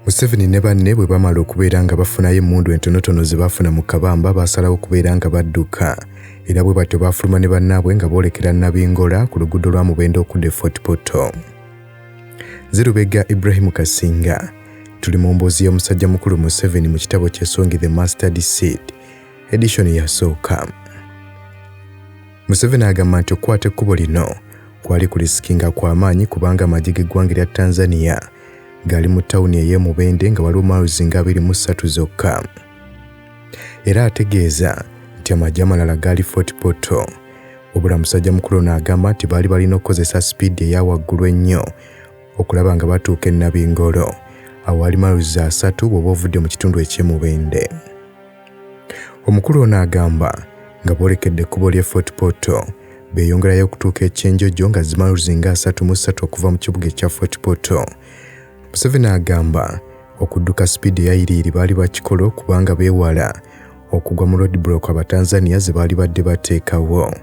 Museveni ne banne bwe bamala okubeera nga bafunayo emmundu entonotono ze baafuna mu kabamba baasalawo okubeera nga badduka era bwe batyo baafuluma ne bannaabwe nga boolekera Nabingola ku luguudo lwa Mubende okudda e Fort Portal. Zirubega Ibrahim Kasinga tuli mu mboozi y'omusajja mukulu Museveni mu kitabo ky'esongi The Mustard Seed edishoni yasooka. Museveni agamba nti okukwata ekkubo lino kwali ku lisikinga kwa maanyi kubanga amagye g'eggwanga erya Tanzania gaali mu tawuni ey'e Mubende nga waliwo miles nga abiri mu ssatu zokka. Era ategeeza nti amagye amalala gaali Fort Portal. Wabula musajja mukulu ono agamba nti baali balina okukozesa sipiidi eya waggulu ennyo okulaba nga batuuka e Nabingolo awaali miles asatu bw'oba ovudde mu kitundu eky'e Mubende. Omukulu ono agamba nga boolekedde ekkubo ly'e Fort Portal, beeyongerayo okutuuka e Kyenjojo nga zi miles nga asatu mu ssatu okuva mu kibuga ekya Fort Portal. Museveni agamba okudduka sipiidi eyayiriiri baali bakikola okubanga beewala okugwa mu roadblock Abatanzania ze baali badde bateekawo.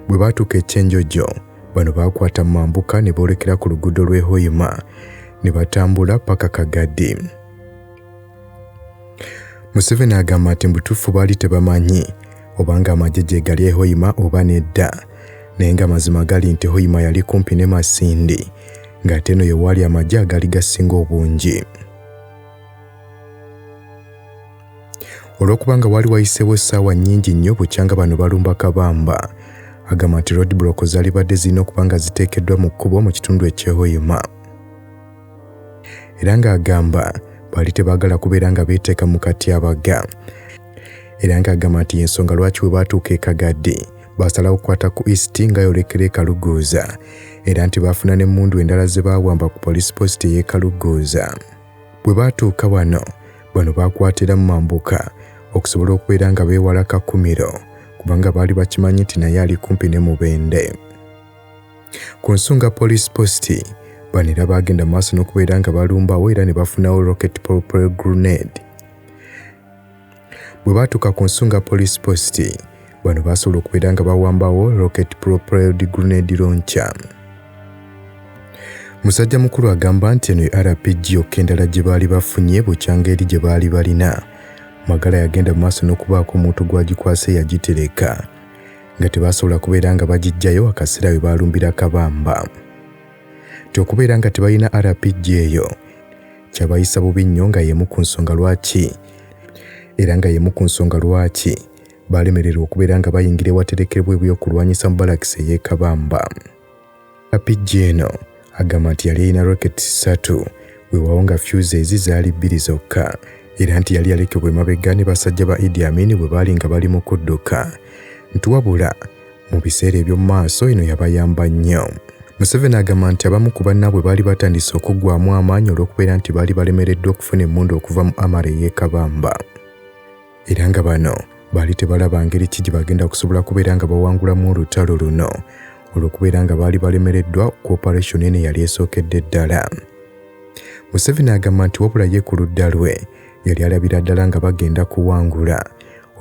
Bwe baatuuka e Kyenjojo, bano baakwata mu mambuka ne boolekera ku luguudo lw'e Hoima ne batambula paka Kagadi. Museveni agamba nti mbutuufu baali tebamanyi obanga amagye gyegali ehoima oba nedda naye nga mazima gali nti hoima yali kumpi ne masindi ng'ate eno yewaali amagye agaali gasinga obungi olw'okubanga waali wayiseewo essaawa nnyingi nnyo bukyanga bano balumba kabamba agamba nti roadblock zaalibadde zirina okuba nga ziteekeddwa mu kkubo mu kitundu ekyehoima era ng'agamba baali tebaagala kubeera nga beeteeka mu katyabaga era ng'agamba nti y'ensonga lwaki we baatuuka e kagadde baasalawo okukwata ku east nga yolekera ekaluguuza era nti baafuna n'emmundu endala ze baawamba ku poliisi posita ey'ekaluguuza bwe baatuuka wano bano baakwatira mu mambuka okusobola okubeera nga beewala kakumiro kubanga baali bakimanyi nti naye ali kumpi ne mubende Ku nsonga police post bano era baagenda mu maaso n'okubeera nga balumbawo era ne bafunawo rocket propel grenade bwe baatuuka ku nsonga police post bano baasobola okubeera nga bawambawo rocket propelled grenade launcher musajja mukulu agamba nti eno rpg yokka endala gye baali bafunye bukyanga eri gye baali balina magala yagenda mu maaso n'okubaako omuntu gw'agikwasa eyagitereka nga tebasobola kubeera nga bagijjayo akaseera we baalumbira kabamba nti okubeera nga tebalina rpg eyo kyabayisa bubi nnyo nga y'emu ku nsonga lwaki era nga y'emu ku nsonga lwaki baalemererwa okubeera nga bayingira ewaterekerwa ebyokulwanyisa mu balakisi ey'ekabamba Apijja eno agamba nti yali yalina rockets ssatu wewawo nga fuse ezi zaali bbiri zokka era nti yali yalekebwa emabega ne basajja ba Idi Amin bwe baali nga bali mu kudduka nti wabula mu biseera eby'omu maaso eno yabayamba nnyo. Museveni agamba nti abamu ku bannaabwe baali batandise okuggwamu amaanyi olw'okubeera nti baali balemereddwa okufuna emmundu okuva mu Amara ey'e Kabamba. era nga bano baali tebalaba ngeri ki gye bagenda kusobola kubeera nga bawangulamu olutalo luno olw'okubeera nga baali balemereddwa ku operation eno eyali esookedde ddala museveni agamba nti wabula ye ku ludda lwe yali alabira ddala nga bagenda kuwangula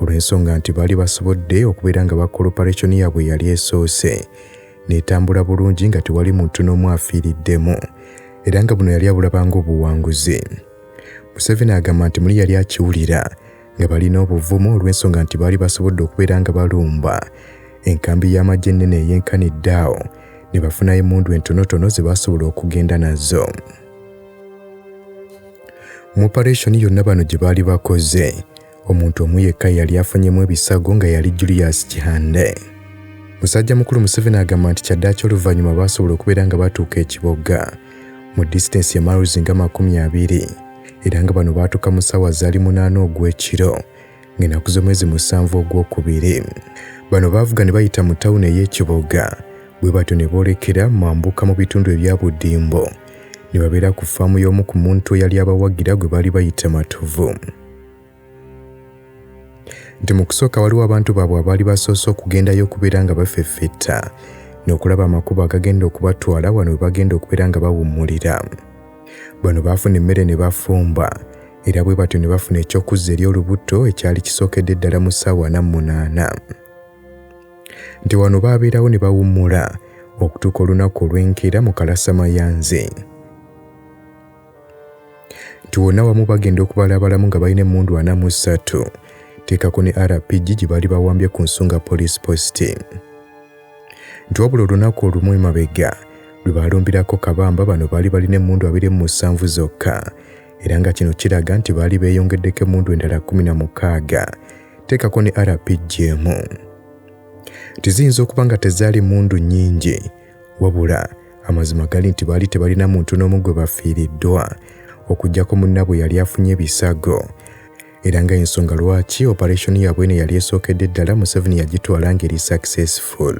olw'ensonga nti baali basobodde okubeera nga bakola operation yaabwe yali esoose n'etambula bulungi nga tewali muntu n'omu afiiriddemu era nga buno yali abulabanga obuwanguzi Museveni agamba nti muli yali akiwulira nga balina obuvumu olw'ensonga nti baali basobodde okubeera nga balumba enkambi y'amagye ennene eyenkanidde awo ne bafunayo emmundu entonotono ze baasobola okugenda nazo mu opareshoni yonna bano gye baali bakoze omuntu omu yekka yali afunyemu ebisago nga yali Julius Kihande. Musajja mukulu Museveni agamba nti kyaddaaki oluvannyuma baasobola okubeera nga batuuka ekiboga mu disitansi ya miles nga makumi abiri era nga bano baatuuka mu ssaawa zaali munaana ogw'ekiro ng'enaku z'omwezi musanvu ogw'okubiri bano baavuga ne bayita mu tawuni ey'ekiboga bwe batyo ne boolekera mambuka mu bitundu ebya buddimbo ne babeera ku faamu y'omu ku muntu eyali abawagira gwe baali bayita matovu nti mu kusooka waliwo abantu baabwe abaali basoose okugendayo okubeera nga bafeffetta n'okulaba amakubo agagenda okubatwala wano we bagenda okubeera nga bawummulira bano baafuna emmere ne bafumba era bwe batyo ne bafuna eky'okuzza eri olubuto ekyali kisookedde ddala mu ssaawa na munaana nti wano baabeerawo ne bawummula okutuuka olunaku olw'enkeera mu kalasamayanzi nti wonna wamu bagenda okubala abalamu nga balina emmundu ana mu ssatu teekako ne rpg gye baali bawambye ku nsonga poliisi positi nti wabula olunaku olumu emabega lwe baalumbirako kabamba bano baali balina emmundu abiri mu musanvu zokka era nga kino kiraga nti baali beeyongeddeko emmundu endala kumi na mukaaga teekako ne rpg emu tiziyinza okuba nga tezaali mundu nnyingi wabula amazima gali nti baali tebalina muntu n'omu gwe bafiiriddwa okuggyako munnabwe yali afunye ebisago era nga ensonga lwaki operation yaabwe eno yali esookedde ddala museveni yagitwala ngeri successful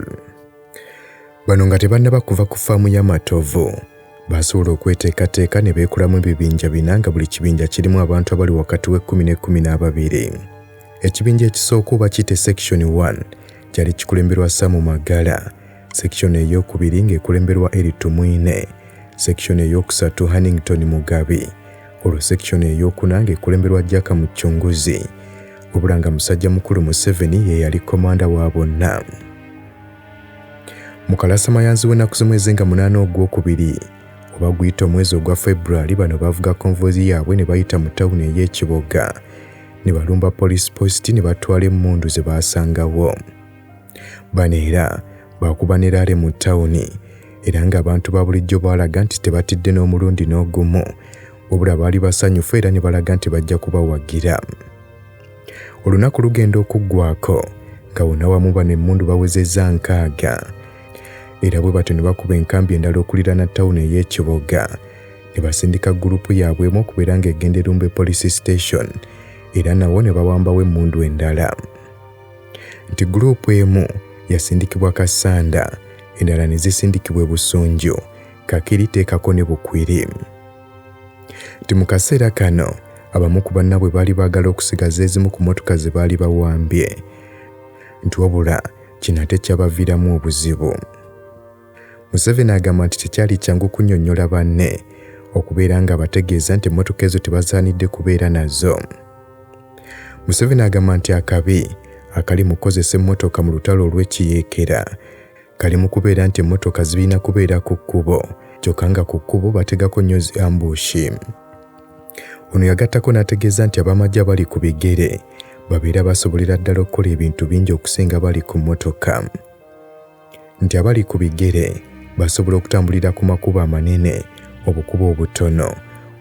bano nga tebannaba kuva ku faamu y'amatovu baasobola okweteekateeka ne beekolamu ebibinja bina nga buli kibinja kirimu abantu abali wakati w'ekkumi n'ekkumi n'ababiri ekibinja ekisooka oba kiyite section 1 kyali kikulemberwa samu magala sekishoni ey'okubiri ng'ekulemberwa Eric Tumwine, sekishoni ey'okusatu Hannington Mugabi, olwo sekishoni ey'okuna ng'ekulemberwa Jack Mucunguzi, wabula nga musajja mukulu Museveni ye yali komanda wa bonna. Mukalasa mayanzi w'ennaku z'omwezi nga munaana ogw'okubiri oba guyita omwezi ogwa February bano bavuga konvozi yaabwe ne bayita mu tawuni ey'ekiboga ne balumba poliisi posti ne batwala emmundu ze baasangawo. Bano era baakuba ne laale mu tawuni era ng'abantu ba bulijjo baalaga nti tebatidde n'omulundi n'ogumu wabula baali basanyufu era ne balaga nti bajja kubawagira olunaku lugenda okuggwako nga wonna wamu bano emmundu bawezezza nkaaga era bwe batyo ne bakuba enkambi endala okuliraana tawuni ey'ekiboga ne basindika gurupu yaabwe emu okubeera ng'egenda erumbe police station era nawo ne bawambawo emmundu endala nti group emu yasindikibwa Kassanda endala ne zisindikibwa e Busunju, Kakiri teekako ne Bukwiri. Nti mu kaseera kano abamu ku bannabwe baali baagala okusigaza ezimu ku motoka ze baali bawambye nti wabula kino ate kyabaviiramu obuzibu. Museveni agamba nti tekyali kyangu kunyonyola banne okubeera nga bategeeza nti emmotoka ezo tebasaanidde kubeera nazo. Museveni agamba nti akabi akali mu kukozesa emmotoka mu lutalo olw'ekiyeekera kali mu kubeera nti emmotoka zirina kubeera ku kkubo kyokka nga ku kkubo bategako nnyo zi ambushi. Ono yagattako n'ategeeza nti ab'amagye abali ku bigere babeera basobolera ddala okukola ebintu bingi okusinga bali ku mmotoka. nti abali ku bigere basobola okutambulira ku makubo amanene, obukubo obutono,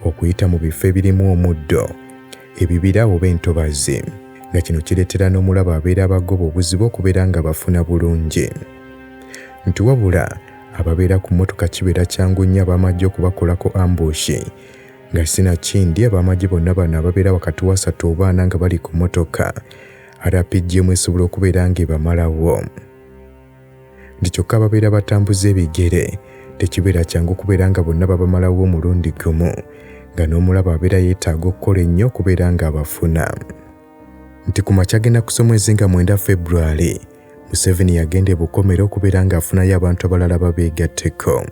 okuyita mu bifo ebirimu omuddo, ebibira oba entobazi nga kino kireetera n'omulabe abeera abagoba obuzibu okubeera nga bafuna bulungi nti wabula ababeera ku mmotoka kibeera kyangu nnyo ab'amagye okubakolako ambushi nga sinakindi ab'amagye bonna bano ababeera wakati wasatu oba ana nga bali ku mmotoka rpgm esobola okubeera ng'ebamalawo nti kyokka ababeera batambuza ebigere tekibeera kyangu kubeera nga bonna babamalawo omulundi gumu nga n'omulaba abeera yeetaaga okukola ennyo okubeera ng'abafuna nti ku makya agenda kusa omwezi nga mwenda february museveni yagenda ebukomera okubeera ng'afunayo abantu abalala babeegatteko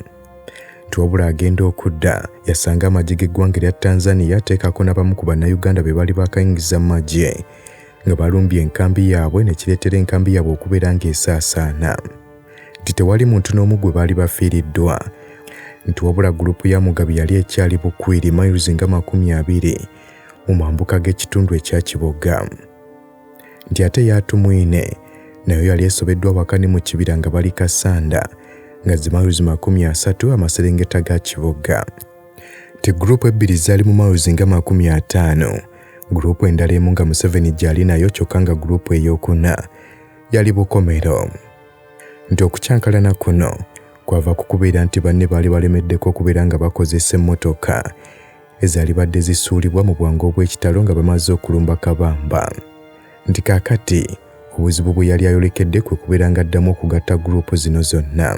nti wabula agenda okudda yasanga amagye g'eggwanga erya tanzania teekako n'abamu ku bannayuganda be baali bakayingiza mu magye nga balumbye enkambi yaabwe ne kireetera enkambi yaabwe okubeera ng'esaasaana nti tewali muntu n'omu gwe baali bafiiriddwa nti wabula gulupu ya mugabi yali ekyali bukwiri miles nga makumi abiri mu mambuka g'ekitundu ekya kiboga nti ate yatumwine nayo yali esobeddwa waka ne mu kibira nga bali kasanda nga zi miles makumi asatu amaserengeta ga kiboga nti gulupu ebbiri zaali mu miles nga makumi ataano guruupu endala emu nga museveni gyali nayo kyokka nga guruupu eyokuna yali bukomero nti okukyankalana kuno kwava ku kubeera nti banne baali balemeddeko okubeera nga bakozesa emmotoka ezaali badde zisuulibwa mu bwangu obw'ekitalo nga bamaze okulumba kabamba nti kaakati obuzibu bwe yali ayolekedde kwe kubeera nga addamu okugatta guruupu zino zonna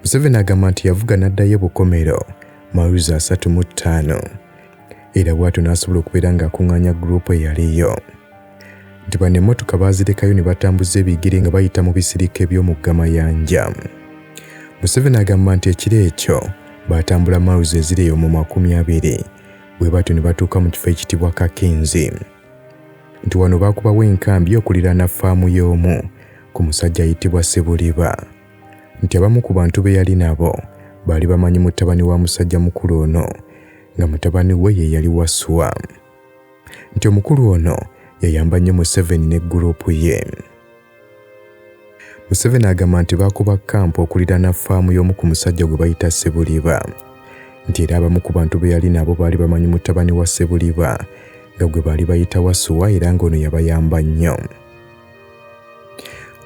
museveni agamba nti yavuga n'addayo bukomero mawuzi asatu mu ttaano era bw'atyo n'asobola okubeera ng'akuŋŋaanya guruupu eyaliyo nti bano emmotoka baazirekayo ne batambuza ebigere nga bayita mu bisirika eby'omugga Mayanja. Museveni agamba nti ekiro ekyo baatambula mawuzi eziri eyo mu makumi abiri bwe batyo ne batuuka mu kifo ekitibwa Kakinzi nti wano baakubawo enkambi okuliraana faamu y'omu ku musajja ayitibwa Sebuliba. nti abamu ku bantu be yali nabo baali bamanyi mutabani wa musajja mukulu ono nga mutabani we ye yali Waswa nti omukulu ono yayamba nnyo Museveni ne gguruupu ye. Museveni agamba nti baakuba kkampu okuliraana ffaamu y'omu ku musajja gwe bayita Sebuliba nti era abamu ku bantu be yali nabo baali bamanyi mutabani wa Sebuliba nga gwe baali bayita Wasuwa era ng'ono yabayamba nnyo.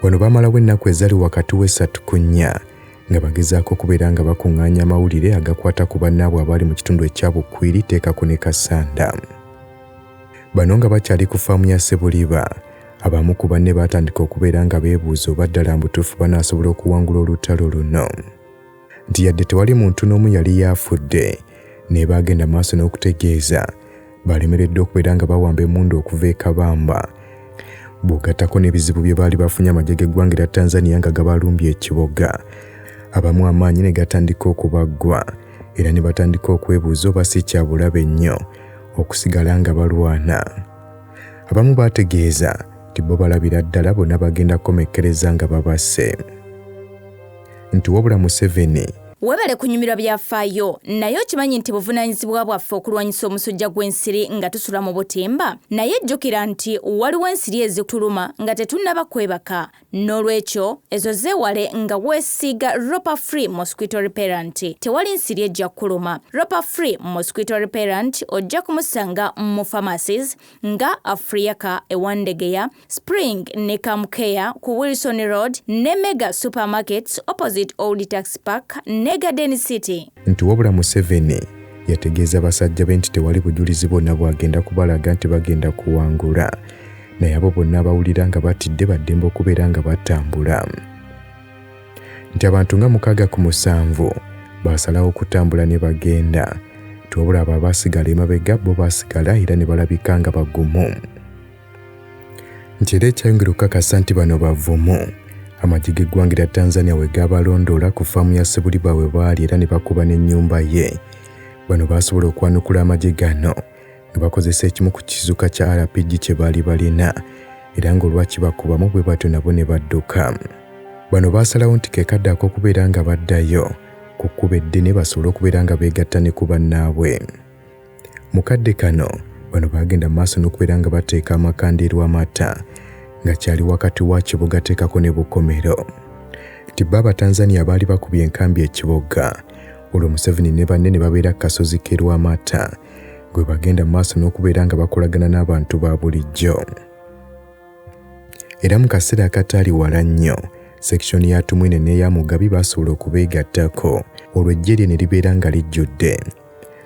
wano baamalawo ennaku ezali wakati w'essatu ku nnya nga bagezaako okubeera nga bakuŋŋaanya amawulire agakwata ku bannaabwe abaali mu kitundu ekya bukwiri teekako ne kasanda bano nga bakyali ku faamu ya sebuliba abamu ku banne baatandika okubeera nga beebuuza oba ddala mbutuufu banaasobola okuwangula olutalo luno nti yadde tewali muntu n'omu yali yaafudde naye baagenda maaso n'okutegeeza baalemereddwa okubeera nga bawamba emundu okuva e kabamba bw'ogattako n'ebizibu bye baali bafunye amagye g'eggwanga era tanzania nga gabalumbye ekiboga abamu amaanyi ne gatandika okubaggwa era ne batandika okwebuuza oba si kyabulabe nnyo okusigala nga balwana abamu baategeeza nti bo balabira ddala bonna bagenda kukomekkereza nga babasse nti wabula Museveni Webale kunyumirwa byafaayo, naye okimanyi nti buvunaanyizibwa bwaffe okulwanyisa omusujja gw'ensiri nga tusula mu butimba? Naye jjukira nti waliwo ensiri ezituluma nga tetunnaba kwebaka. N'olwekyo, ezo zeewale nga weesiiga Ropa Free Mosquito Repellent. Tewali nsiri ejja kukuluma. Ropa Free Mosquito Repellent ojja kumusanga mu pharmacies nga Afriaca e Wandegeya, Spring ne Camcare ku Wilson Road ne Mega Supermarkets opposite Old Tax Park ne Garden City. Nti wabula Museveni yategeeza basajja be nti tewali bujulizi bwonna bwagenda kubalaga nti bagenda kuwangula naye abo bonna abawulira nga batidde baddembe okubeera nga batambula nti abantu nga mukaaga ku musanvu baasalawo okutambula ne bagenda tiwabula abo abaasigala emabega bo baasigala era ne balabika nga bagumu nti era ekyayongera okukakasa nti bano bavumu amagi g'eggwanga erya tanzania we gaabalondoola ku faamu ya sebuliba we baali era ne bakuba n'ennyumba ye bano baasobola okwanukula amagi gano ne bakozesa ekimu ku kizuka kya rpg kye baali balina era ng'olwakibakubamu bwe batyo nabo ne badduka bano baasalawo nti kekadde ak'okubeera nga baddayo ku kkuba eddene basobole okubeera nga beegatta ne ku bannaabwe Mu kadde kano bano baagenda mu maaso n'okubeera nga bateeka amakandeeru amata nga kyali wakati wa kibuga teekako ne bukomero nti bo abatanzania abaali bakubye enkambi ekibuga olwo museveni ne banne ne babeera ku kasozi ke lwamata gwe bagenda mu maaso n'okubeera nga bakolagana n'abantu ba bulijjo era mu kaseera akataali wala nnyo sekishoni ya tumwine n'eya mugabi baasobola okubeegattako olwo ejje lye ne libeera nga lijjudde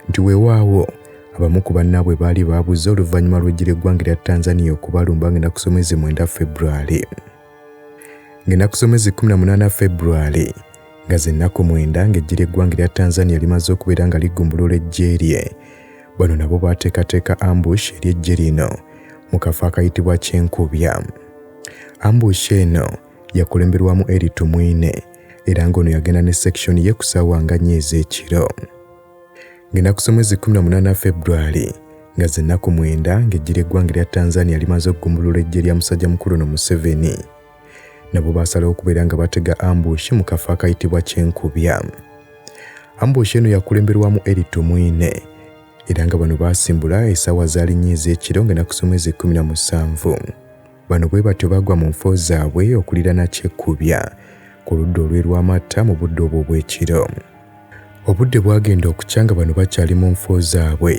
nti weewaawo abamu ku bannaabwe baali baabuze oluvannyuma lw'eggira eggwanga erya Tanzania okubalumba ng'ennaku z'omwezi mwenda February. Ng'ennaku z'omwezi 18 February nga z'ennaku mwenda ng'eggira eggwanga erya Tanzania limaze okubeera nga ligumbulula eggye lye, bano nabo baateekateeka ambush eri eggye lino mu kafo akayitibwa Kyenkubya. Ambush eno yakulemberwamu Eli Tumwine era ng'ono yagenda ne section ye ku ssaawa nga nnyo ez'ekiro ng'ennaku z'omwezi 18 February nga zennaku mwenda ng'eggye ly'eggwanga erya Tanzania limaze okugumbulula eggye lya musajja mukulu no Museveni nabo baasalawo okubeera nga batega ambushi mu kafo akayitibwa Kyenkubya ambushi eno yakulemberwamu Eli Tumwine era nga bano baasimbula essaawa zaalinnyo ez'ekiro ng'ennaku z'omwezi 17 Bano bwe batyo bagwa mu nfo zaabwe okulirana kyekkubya ku ludda olw'e Lwamatta mu budde obwo obw'ekiro. Obudde bwagenda okukya nga bano bakyali mu nfo zaabwe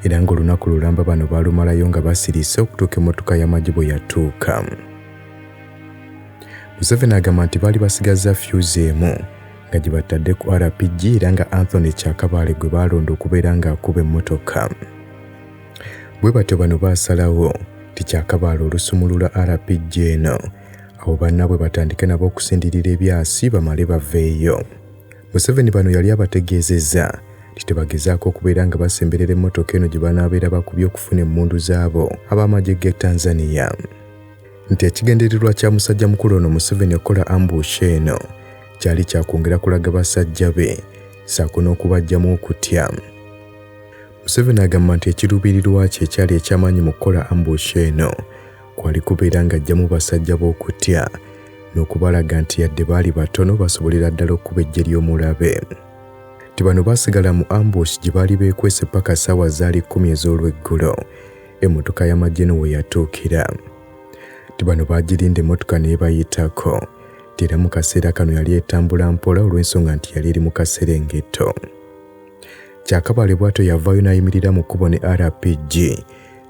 era ng'olunaku lulamba bano baalumalayo nga basirise okutuuka emmotoka y'amagye bwe yatuuka. Museveni agamba nti baali basigazza fyuzi emu nga gye batadde ku RPG era nga Anthony Kyakabaale gwe baalonda okubeera ng'akuba emmotoka. Bwe batyo bano baasalawo nti kyakabaala olusumulula RPG eno awo bannaabwe batandike nabo okusindirira ebyasi bamale baveeyo. Museveni bano yali abategeezezza nti tebagezaako okubeera nga basemberera emmotoka eno gye banaabeera bakubye okufuna emmundu zaabo ab'amagye g'e Tanzania. Nti ekigendererwa kya musajja mukulu ono Museveni okukola ambush eno kyali kyakwongera kulaga basajja be saako n'okubaggyamu okutya. Museveni agamba nti ekiruubirirwa kye ekyali eky'amaanyi mu kukola ambush eno kwali kubeera ng'aggyamu basajja b'okutya n'okubalaga nti yadde baali batono basobolera ddala okukuba eggye ly'omulabe nti bano baasigala mu ambush gye baali beekwese paka ssaawa zaali kkumi ez'olweggulo emmotoka y'amagye no we yatuukira nti bano baagirinda emmotoka n'ebayitako nti era mu kaseera kano yali etambula mpola olw'ensonga nti yali eri mu kaserengeto Kyakabale bwatyo yavaayo n'ayimirira mu kkubo ne RPG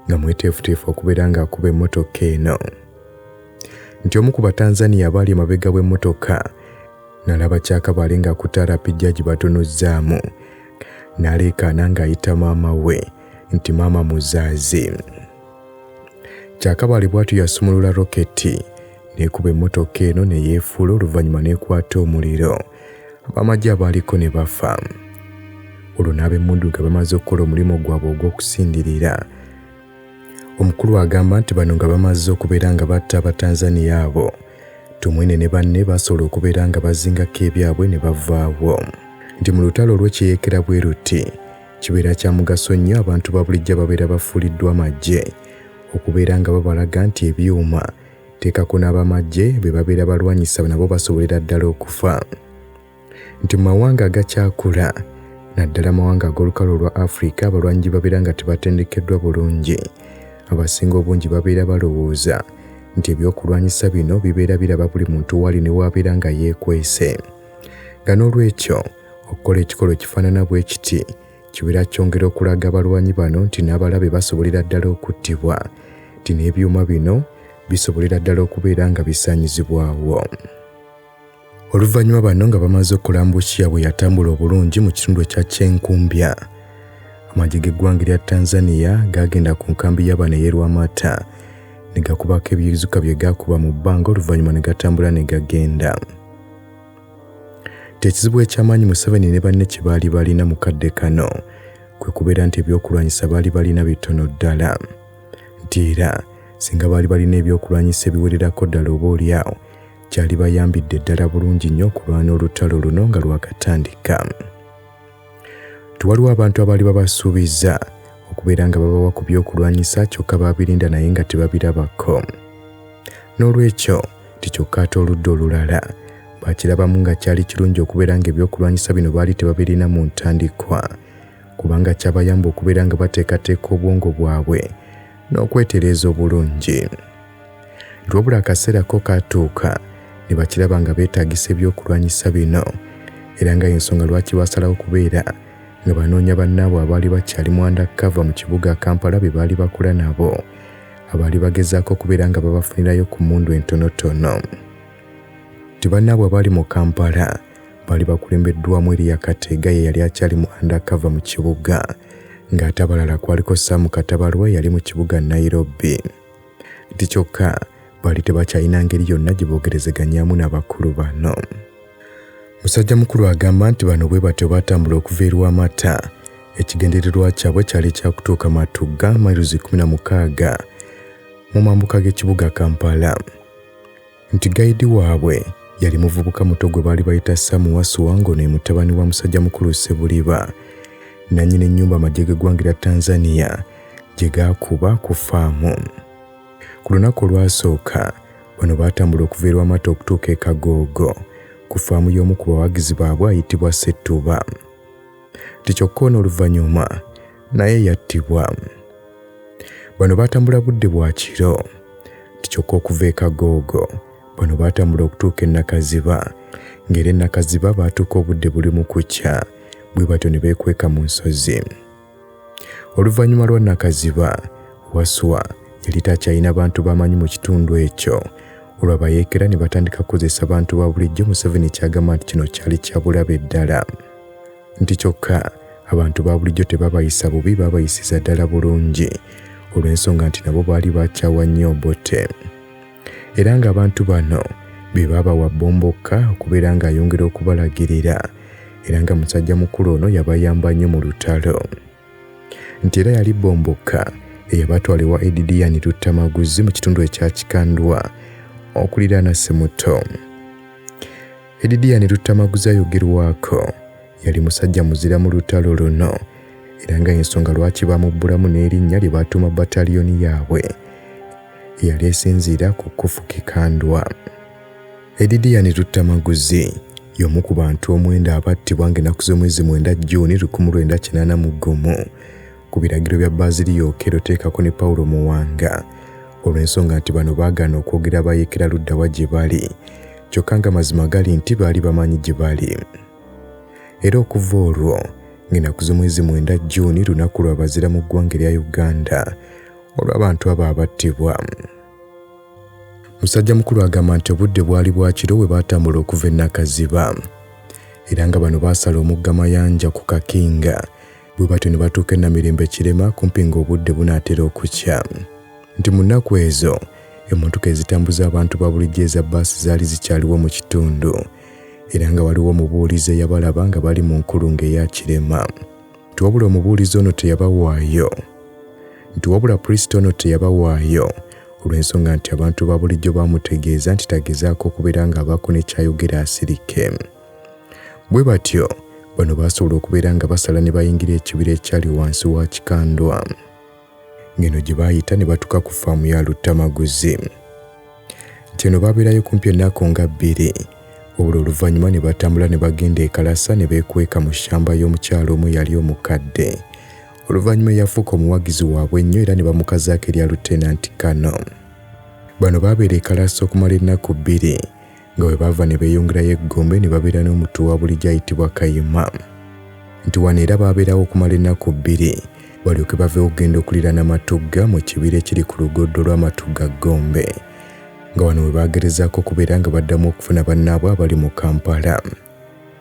nga mweteefuteefu okubeera ng'akuba emmotoka eno nti omu ku Batanzania abaali emabega w'emmotoka n'alaba Kyakabale ng'akutte RPG agibatunuzzaamu n'aleekaana ng'ayita maama we nti maama muzaazi. Kyakabaale bw'atyo yasumulula roketi n'ekuba emmotoka eno ne yeefuula oluvannyuma n'ekwata omuliro abamagye abaaliko ne bafa olwo n'abemmundu nga bamaze okukola omulimu gwabwe ogw'okusindirira omukulu agamba nti bano nga bamaze okubeera nga batta abatanzaniya abo tumwine ne banne basobola okubeera nga bazingako ebyabwe ne bavaawo nti mu lutalo olw'ekiyeekera bwe luti Kibeera kya mugaso nnyo abantu ba bulijjo ababeera bafuuliddwa amagye okubeera nga babalaga nti ebyuma teekako n'abamagye be babeera balwanyisa nabo basobolera ddala okufa nti mu mawanga agakyakula naddala amawanga ag'olukalo olwa afirika abalwanyi gye babeera nga tebatendekeddwa bulungi abasinga obungi babeera balowooza nti ebyokulwanyisa bino bibeera biraba buli muntu waali ne waabeera nga yeekwese nga n'olwekyo okukola ekikolo kifaanana bwe kiti kibeera kyongera okulaga abalwanyi bano nti n'abalabe basobolera ddala okuttibwa nti n'ebyuma bino bisobolera ddala okubeera nga bisaanyizibwawo oluvannyuma bano nga bamaze okukola mbukiya bwe yatambula obulungi mu kitundu ekya kyenkumbya amagye g'eggwanga erya tanzania gaagenda ku nkambi y'abaana ey'erwamata ne gakubako ebizuka bye gaakuba mu bbanga oluvannyuma ne gatambula ne gagenda Tekizibu ekyamaanyi Museveni ne banne kye baali balina mu kadde kano kwe kubeera nti ebyokulwanyisa baali balina bitono ddala nti era singa baali balina ebyokulwanyisa ebiwererako ddala oba olyawo kyali bayambidde ddala bulungi nnyo okulwana olutalo luno nga lwakatandika. Tewaliwo abantu abaali babasuubizza okubeera nga babawa ku by'okulwanyisa kyokka baabirinda naye nga tebabirabako. N'olwekyo, ti kyokka ate oludda olulala baakirabamu nga kyali kirungi okubeera ng'ebyokulwanyisa bino baali tebabirina mu ntandikwa kubanga kyabayamba okubeera nga bateekateeka obwongo bwabwe n'okwetereeza obulungi. Wabula akaseera ko kaatuuka ne bakiraba nga beetaagisa ebyokulwanyisa bino era nga y'ensonga lwaki baasalawo okubeera nga banoonya bannaabwe abaali bakyali mu andakava mu kibuga Kampala be baali bakula nabo abaali bagezaako okubeera nga babafunirayo ku mmundu entonotono. Ti bannaabwe abaali mu Kampala baali bakulembeddwamu Eriya Kateega ye yali akyali mu andakava mu kibuga ng'ate abalala kwaliko Sam Katabalwa yali mu kibuga Nairobi. nti kyokka baali tebakyalina ngeri yonna gye boogerezeganyaamu n'abakulu bano musajja mukulu agamba nti bano bwe batyo baatambula okuva erwa amata ekigendererwa kyabwe kyali kyakutuuka matugga mairuzi 16 mu mambuka g'ekibuga kampala nti gayidi waabwe yali muvubuka muto gwe baali bayita Sam Wasuwa ng'ono ye mutabani wa musajja mukulu Ssebuliba nannyini nnyumba amagye g'eggwanga erya Tanzania gye gaakuba ku faamu. Ku lunaku olwasooka bano baatambula okuva e Lwamata okutuuka e Kagoogo ku faamu y'omu ku bawagizi baabwe ayitibwa Ssettuba. nti kyokka ono oluvannyuma naye yattibwa bano baatambula budde bwa kiro nti kyokka okuva e kagoogo bano baatambula okutuuka e nakaziba ng'era e nakaziba baatuuka obudde buli mu kukya bwe batyo ne beekweka mu nsozi oluvannyuma lwa nakaziba waswa yali takyalina bantu bamanyi mu kitundu ekyo olwabayeekera ne batandika kukozesa bantu ba bulijjo museveni kyagamba nti kino kyali kyabulabe ddala nti kyokka abantu ba bulijjo tebabayisa bubi babayisiza ddala bulungi olw'ensonga nti nabo baali bakyawa nnyo obote era ng'abantu bano be baabawa bombokka okubeera ng'ayongera okubalagirira era nga musajja mukulu ono yabayamba nnyo mu lutalo nti era yali bombokka eyabatwala ewa edidiyani tuttamaguzi mu kitundu ekya kikandwa okuliraana simuto edidiyani tuttamaguzi ayogerwako yali musajja muzira mu lutalo luno era nga ensonga lwaki bamubbulamu n'erinnya lye baatuuma bataliyoni yaabwe eyali esinziira ku kufuka ekandwa Edidiani Luttamaguzi y'omu ku bantu omwenda abattibwa ng'ennaku z'omwezi mwenda Jjuuni 1981 ku biragiro bya Baaziriya Okello teekako ne Paulo Muwanga olw'ensonga nti bano baagaana okwogera bayeekera luddawa gye bali kyokka nga mazima gali nti baali bamanyi gye bali era okuva olwo ng'ennaku z'omwezi mwenda Jjuuni lunaku lwa bazira mu ggwanga erya Uganda olw'abantu abo abattibwa. Musajja mukulu agamba nti obudde bwali bwa kiro bwe baatambula okuva e Nakaziba era nga bano baasala omugga Mayanja ku Kakinga bwe batyo ne batuuka e Namirembe Kirema kumpi ng'obudde bunaatera okukya nti mu nnaku ezo emmotoka ezitambuza abantu ba bulijjo eza bbaasi zaali zikyaliwo mu kitundu era nga waliwo omubuulizi eyabalaba nga bali mu nkulungo eya Kirema. nti wabula omubuulizi ono teyabawaayo nti wabula pulisita ono teyabawaayo olw'ensonga nti abantu ba bulijjo baamutegeeza nti tagezaako okubeera ng'abaako ne kyayogera asirike bwe batyo bano baasobola okubeera nga basala ne bayingira ekibira ekyali wansi wa kikandwa ng'eno gye baayita ne batuuka ku ffaamu ya Luttamaguzi. Nti eno baabeerayo kumpi ennaku nga bbiri wabula oluvannyuma ne batambula ne bagenda e Kalasa ne beekweka mu ssamba y'omukyala omu eyali omukadde oluvannyuma eyafuuka omuwagizi waabwe ennyo era ne bamukazaako erya Lutenanti Kano. Bano baabeera e Kalasa okumala ennaku bbiri nga bwe baava ne beeyongerayo e Gombe ne babeera n'omuttu wa bulijjo ayitibwa Kayima nti wano era baabeerawo okumala ennaku bbiri balyoke baveewo okugenda okuliraana Matugga mu kibira ekiri ku lugoddo lwa Matugga Gombe nga wano we baagerezaako okubeera nga baddamu okufuna bannaabwe abali mu Kampala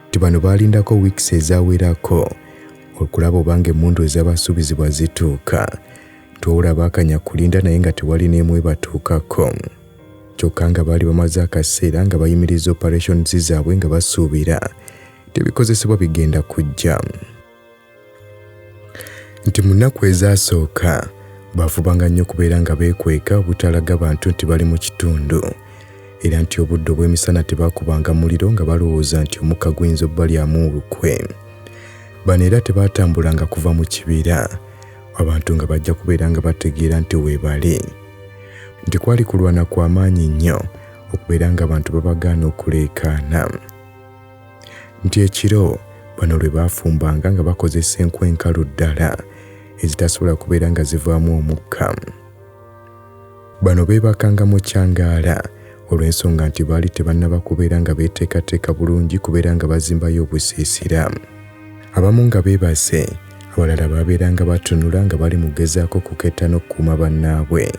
nti bano baalindako wiikisi ezawerako okulaba obanga emmundu ezabasuubizibwa zituuka nti wabula baakanya kulinda naye nga tewali n'emu ebatuukako kyokka nga baali bamaze akaseera nga bayimiriza operations zaabwe nga basuubira tebikozesebwa bigenda kujja nti mu nnaku ezaasooka baafubanga nnyo okubeera nga beekweka obutalaga bantu nti bali mu kitundu era nti obudde obw'emisana tebaakubanga muliro nga balowooza nti omukka guyinza obbalyamu olukwe bano era tebaatambulanga kuva mu kibira abantu nga bajja kubeera nga bategeera nti weebali nti kwali kulwana kwa maanyi nnyo okubeera ng'abantu babagaana okuleekaana nti ekiro bano lwe baafumbanga nga bakozesa enku enkalu ddala ezitasobola kubeera nga zivaamu omukka Bano beebakanga mu kyangaala olw'ensonga nti baali tebannaba kubeera nga beeteekateeka bulungi kubeera nga bazimbayo obusiisira. Abamu nga beebase, abalala baabeeranga batunula nga bali mu kugezaako kuketta n'okukuuma bannaabwe.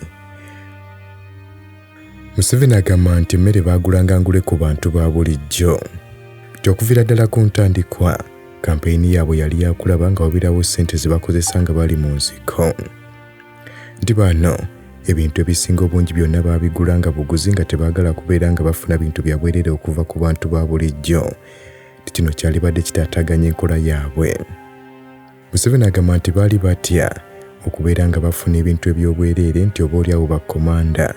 Museveni agamba nti emmere baagulanga ngule ku bantu ba bulijjo nti okuviira ddala ku ntandikwa kampeyini yaabwe yali yakulaba nga wabirawo ssente ze bakozesa nga bali mu nsiko. nti baano ebintu ebisinga obungi byonna baabigula nga buguzi nga tebaagala kubeera nga bafuna bintu bya bwerere okuva ku bantu ba bulijjo nti kino kyalibadde kitaataaganya enkola yaabwe museveni agamba nti baali batya okubeera nga bafuna ebintu eby'obwereere nti oba oli awo bakkomanda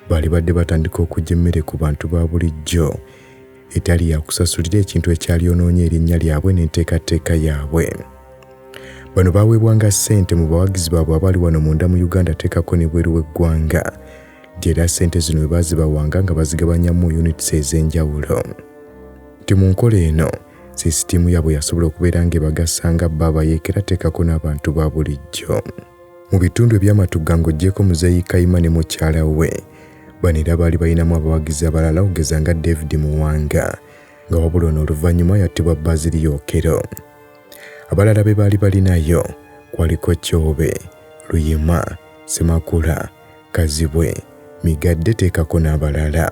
baalibadde batandika okujja emmere ku bantu ba bulijjo etali yakusasulira ekintu ekyalyonoonye erinnya lyabwe n'enteekateeka yaabwe bano baweebwanga ssente mu bawagizi baabwe abali wano munda mu uganda teekako ne bweru w'eggwanga gyera ssente zino bwe baazibawanga nga bazigabanyamu units ez'enjawulo nti mu nkola eno sisitiimu yaabwe yasobola okubeera ng'ebagasa nga baaba yeekera teekako n'abantu ba bulijjo mu bitundu eby'amatugga ng'oggyeko muzeeyi kayima ne mukyala we Bano era baali balinamu abawagizi abalala okugeza nga David Muwanga nga wabula ono oluvannyuma yattibwa Bazili Yokero. Abalala be baali balinayo kwaliko Kyobe, Luyima, Semakula, Kazibwe, Migadde teekako n'abalala.